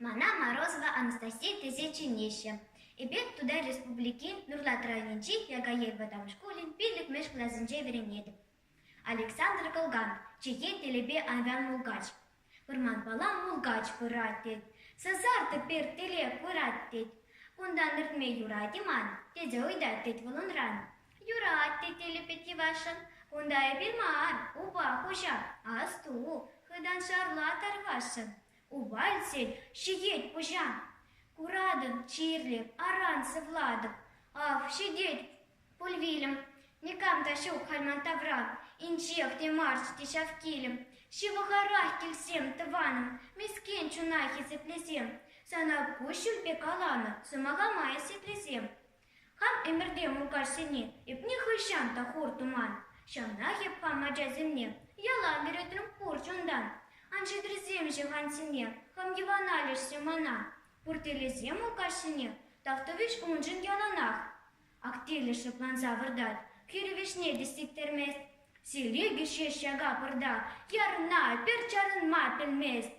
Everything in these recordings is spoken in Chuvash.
Мана Морозова Анастасия тесе чӗнеҫҫӗ. Эпир Тутар Республикин Нурлат районӗнчи Якаел вӑтам шкулӗн пиллӗкмӗш класӗнче вӗренетӗп. Александр Кылган, чӗхе телепе аван мулкач. Вӑрманпала мулкач пырать тет, сасартӑк пертеле курать тет. Кунтан иртме юрать-и ман? тесе ыйтать тет вӑл унран. Юрать тет Элӗпет йӑвашшӑн, кунта эпир мар, упа хуҫа, асту, хытан шарла тарвасшӑн. Упа илтсен ҫитет пуҫа. Куратӑн, чирлӗп, аран сывлатӑп. Ах, ҫитет Пуль вилӗм. Никам та ҫук халь ман тавра. Инҫех те марччӗ те ҫав килӗм. Ҫывӑхарах килсем, тӑванӑм, мескен чуна хисеплесем. Сана куҫҫульпе каланӑ сӑмахлама хисеплесем. Хам ӗмӗрте мулкачсене эпне хӑҫан та хур туман. Ҫавнах эп хам ачасене яла вӗретӗм пур чунтан. Ан ҫитрӗсемҫӗ хансене, хам йӑвана леҫсе мана. Пуртелӗсем мулкачсене, тавтӑвӗҫ уншӑн яланах. Активлӗ шӑпланса выртать, хӗрӳ вӗҫне те сиктермест. Сирӗкӗ ҫеҫ ҫака пӑрта ярӑнма, пӗр чарӑнма пӗлмест.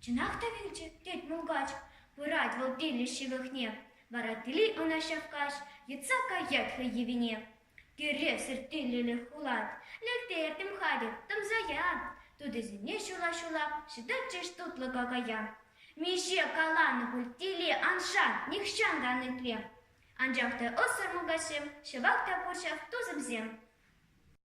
«Чӑнах та вилчӗ?» тет мулкач. Пырать вӑл Тилӗ ҫывӑхне, вара Тили ӑна ҫак каҫ йӑтса каять хӑй йӑвине. Тӳревсӗр Тилӗлӗх улать, лӗлтертӗм хатӗр, тӑмсая. Тутисене ҫула-ҫула ҫӑтатчӗҫ тутлӑ какая. Миҫе каланӑ пуль Тили аншан, нихҫан та ан итле. Анчах та ӑссӑр мулкачсем ҫӑвах та пурҫах тусӗмсем.